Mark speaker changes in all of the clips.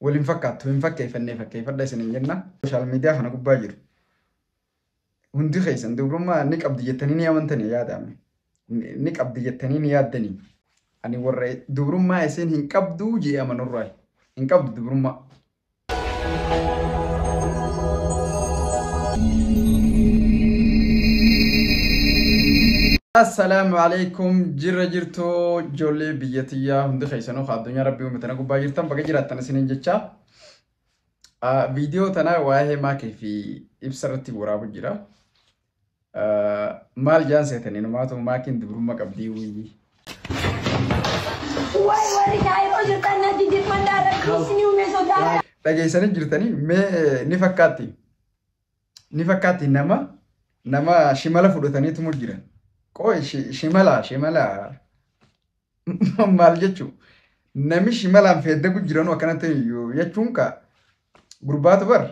Speaker 1: Wal hin fakkaattu, hin fakkeeffannee fakkeeffadha isiniin jenna. Social media kana gubbaa jiru. Hundi keessan dubrummaa ni qabdi jettanii ni amantanii yaadaame. Ni qabdi jettanii ni yaaddanii. Ani warra dubrummaa isiin hin qabdu jee amanurraa. Hin qabdu dubrummaa. Assalaamu alaikum jirra jirtu ijoollee biyya tiyyaa hundi keessanuu ka addunyaa rabbii uume Tana gubbaa jirtan baga jiraattan isiniin jecha viidiyoo tana waa'ee maakii fi ibsa irratti waraabu jira. Maal jaan seetanii numaatu maakiin dubrummaa qabdii wuyyi.
Speaker 2: Wayi warri daa'ima jirtan na jijjiirfadhaa rabbi isinii uumee sodaa. Dhageessanii jirtanii
Speaker 1: mee ni fakkaatti. ni fakkaatti nama nama shimala fudhatanii tumu jiran. Qoy shi- shimala shimala maal jechuu nami shimalaan feeddagu jiranu akkanatti yoo jechuun ka gurbaatu bar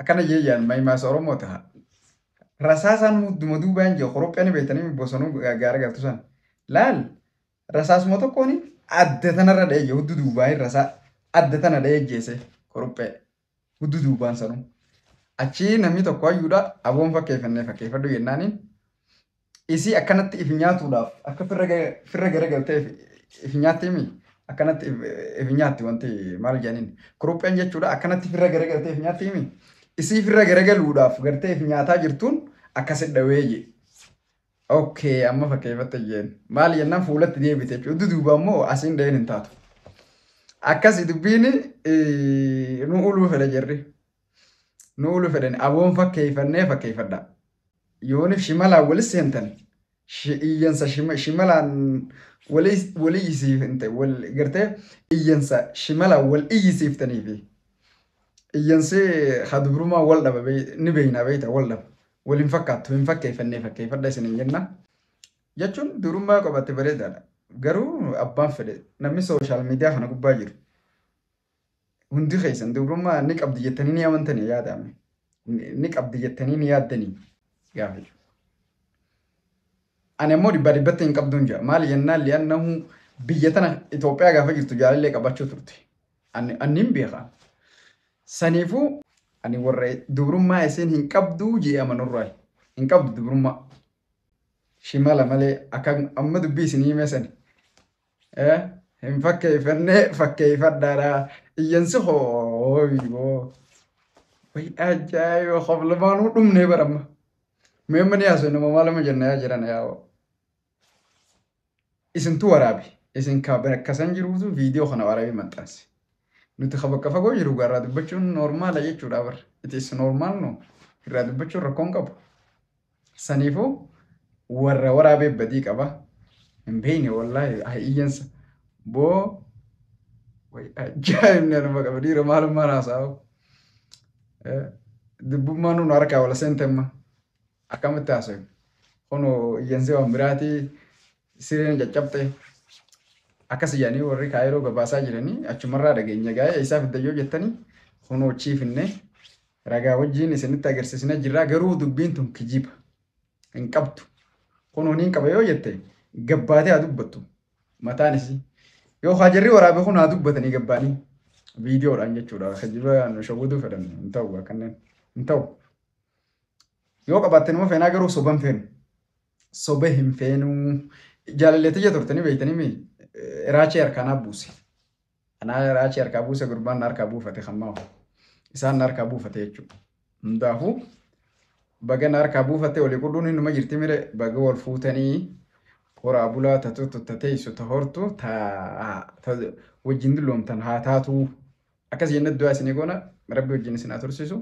Speaker 1: akkana jee yaan mahimaasa Oromoo taha. Rasaasaan mudduma duubaan jee koropheeni beektanii bosonuu gaara galtu san. Laal rasaasuma tokkoon adda tanarra dha'ee jee hudduu duubaan rasaa adda tana dha'ee jeese korophee. Huddu duubaan sanuu. Achii namni tokko hayyuudha aboon fakkeeffannee fakkeeffadhu jennaaniin isii akkanatti if nyaatuudhaaf akka firra ga- firra garagaltee if- if nyaatti himi akkanatti if- if nyaatti wanti maal jedhaniin kurupheen jechuudha akkanatti firra garagaltee if nyaatti himi isii firra garagaluudhaaf gartee if nyaataa jirtuun akkasidha weeyye Ok amma fakkeeffatte jeen maal jennaan fuulatti deebite jechuudha. Duduuba immoo asiin dhaheen hin taatu. Akkasi dubbiin nu uluu fedha jirri. Nu uluu fedhan aboon fakkeeffannee fakkeeffadha. Yoonif shimalaan walis seentan iyyansa shimalaan wal iyyisiifte wal gartee iyyansa shimalaan wal iyyisiiftanii fi iyyansi hadubrumaa wal dhaba ni beeyna beeyta wal dhaba. Wal hin fakkaattu, hin fakkeeffannee fakkeeffadha isiniin jenna. Jechuun durummaa qophatti bareedaadha. Garuu abbaan fedhe namni sooshaal miidiyaa kana gubbaa jiru hundi keessan dubrummaa ni qabdi jettanii ni amantanii yaadame. Ni qabdi jettanii ni yaaddanii gaafa jiru. Ani ammoo dhibbaa dhibbatti hin qabduun jira. Maali jennaan li'annahu biyya tana Itoophiyaa gaafa jirtu jaalallee qabachuu turte. Ani, ani hin beeka. Saniifuu ani warra dubrummaa isiin hin qabduu jee amanurraayi. Hin qabdu dubrummaa. Shimala malee akka amma dubbii isinii himee sani. Eh, hin fakkeeffannee fakkeeffadhaadha. Iyyansi hoo biiboo. Way ajaa'iba qof lamaanuu dhumnee baramma. Mee amma ni haasofna moo maal amma jenna yaa jiran yaa hoo. Isintu waraabe isin ka bakka san jiruutu video kana waraabee maxxanse. Nuti ka bakka fagoo jiru gaa irraa dubbachuun normaala jechuudha bar. It is normal no. Irraa dubbachuun rakkoo hin qabu. Saniifuu warra waraabee badii qaba. Hin beeyne wallaahi haa iyyansa. Boo way ajaa'ibni anuma qaba dhiira maalummaan haasa'u. Dubbummaan nu harkaa wala seente amma. Akkamitti haasofna? Kunoo iyyansee waan biraati sireen caccabxe akkas iyyanii warri kaayiroo gabaasaa jiranii achumarraa dhageenya gaa'ee eessaa fiddan yoo jettanii kunoo chiifinne ragaa wajjiin isinitti agarsiisnee jirraa garuu dubbiin tun kijiba hin qabdu kunoo niin qaba yoo jette gabbaatee haa dubbattu mataan isii yoo haa jarri waraabe kun haa dubbatanii gabbaanii viidiyoodhaan jechuudha kijiba nu shawwaduu fedhan hin ta'u kanneen hin ta'u. Yoo qabaatte nama feenaa garuu soba hin feenu. Soba hin feenuu. Jaalallee tiyya turtanii beektanii mi? Raachee harkaa naa buuse. Anaa raachee harkaa buuse gurbaan na harkaa buufate kan maa'u. Isaan na harkaa buufate jechuudha. Hundaafuu baga na harkaa buufatte olii qudhuun innuma jirti mire baga wal fuutanii horaa bulaa tatuutu ta teessu ta hortu ta ta wajjin dulloomtan haa taatuu. Akkas jennee du'aa isinii goona rabbi wajjin isin haa tursiisu.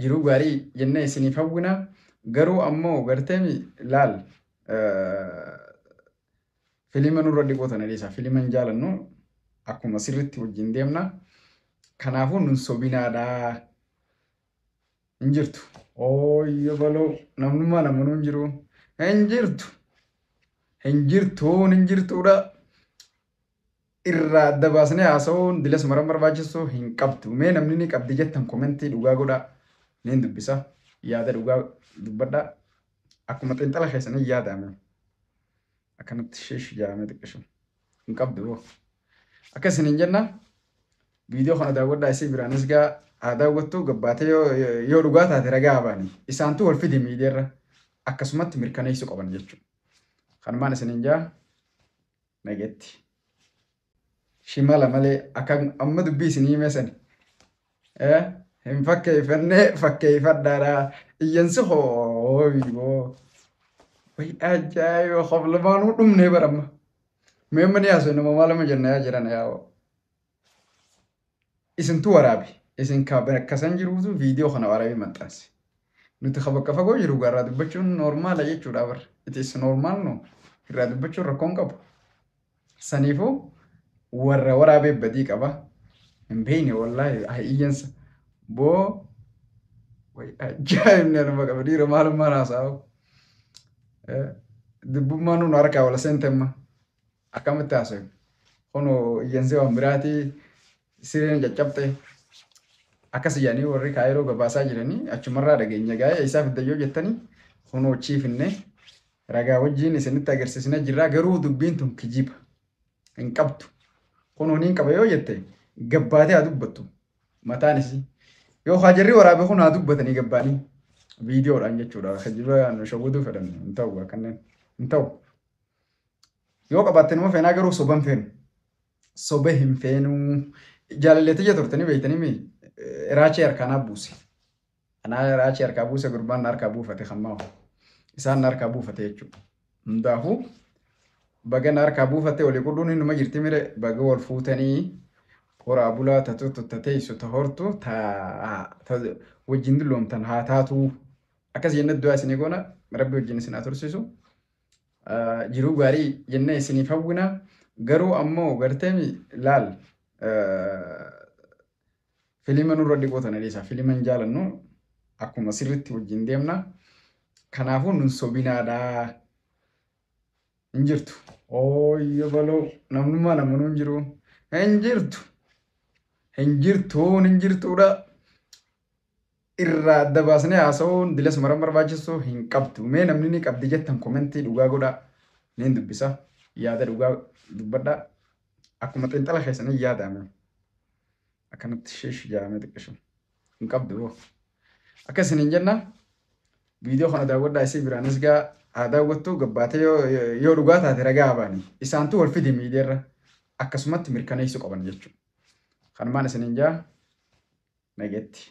Speaker 1: jiruu gaarii jennee isiniif hawwina garuu ammoo garteemi laal filima nurra dhiquu tana dhiisa filima hin jaalannu akkuma sirritti wajjin deemna kanaafuu nun sobinaadha hin jirtu ooyyo baloo namnummaa namanuu hin jiru hin jirtu hin jirtuun hin jirtuudha irraa adda baasnee haasa'uun bilasuma irra barbaachisu hin qabdu. Mee namni ni qabdi jettan komentii dhugaa godhaa. Niin dubbisa. Yaada dhugaa dubbadhaa. Akkuma xiinxala keessanii yaadaame. Akkanatti shiish jaamee xiqqishu. Hin qabdu boo. Akka isin hin jenna viidiyoo kana daawwadhaa isii biraanis gaa haa daawwattu gabbaatee yoo, yoo dhugaa taate ragaa baani. Isaantu wal fidi miidiyaarra akkasumatti mirkaneessuu qaban jechuudha. Kanumaan isin hin jaa. Nagetti. Shimala malee akka amma dubbii isin himee sani. Eh, hin fakkeeffannee fakkeeffadhaadha. Iyyansi hoo boo. Way ajaa'iba qof lamaanuu dhumnee baramma. Mee amma ni haasofne moo maaluma jenna yaa jiran yaa hoo. Isintu waraabe. Isin ka bakka san jiruutu viidiyoo kana waraabee maxxanse. Nuti ka bakka fagoo jiru gaa irraa dubbachuun noormaala jechuudha bar. It is normal no. Irraa dubbachuun rakkoo hin qabu. Saniifuu warra waraabee badii qaba. Hin beeyne wallaahi haa iyyansa. Boo way ajaa'ibni anuma qaba dhiira maalummaan haasa'u. Dubbummaan nu harkaa wala seente amma. Akkamitti haasofna? Kuno iyyansee waan biraati sireen caccabxe akkas iyyanii warri kaayiroo gabaasaa jiranii achumarraa dhageenya gaa'ee eessaa fiddan yoo jettanii kuno achii finne ragaa wajjiin isinitti agarsiisna jirraa garuu dubbiin tun kijiba hin qabdu kuno niin qaba yoo jette gabbaatee haa dubbattu mataan isii yoo haajarri waraabe kun haa dubbatanii gabbaanii viidiyoodhaan jechuudha kijiba nu shawwaduu fedhan hin ta'u akkanneen hin ta'u. Yoo qabaatte numa feenaa garuu soba hin feenu. Soba hin feenuu. Jaalallee tiyya turtanii beektanii mi? Raachee harkaa naa buuse. Anaa raachee harkaa buuse gurbaan na harkaa buufate kan maafu. Isaan na harkaa buufate jechuudha. Hundaafuu baga na harkaa buufatte olii qudhuun innuma jirti mire baga wal fuutanii horaa bulaa tatuutu ta teessu ta hortu ta ta wajjin dulloomtan haa taatuu. Akkas jennee du'aa isinii goona rabbi wajjin isin haa tursiisu. jiruu gaarii jennee isiniif hawwina garuu ammoo garteemi laal filima nurra dhiquu tana dhiisa filima hin jaalannu akkuma sirritti wajjin deemna kanaafuu nun sobinaadha hin jirtu ooyyo baloo namnummaa namanuu hin jiru hin jirtu hin jirtuun hin jirtuudha irraa adda baasnee haasa'uun bilasuma irra barbaachisu hin qabdu. Mee namni ni qabdi jettan komentii dhugaa godhaa. Niin dubbisa. Yaada dhugaa dubbadhaa. Akkuma xiinxala keessanii yaadaame. Akkanatti shiish jaamee xiqqishu. Hin qabdu boo. Akka isin hin jenna viidiyoo kana daawwadhaa isii biraanis gaa haa daawwattu gabbaatee yoo, yoo dhugaa taate ragaa baani. Isaantu wal fidi miidiyaarra akkasumatti mirkaneessuu qaban jechuudha. Kanumaan isiniin jaa nageetti.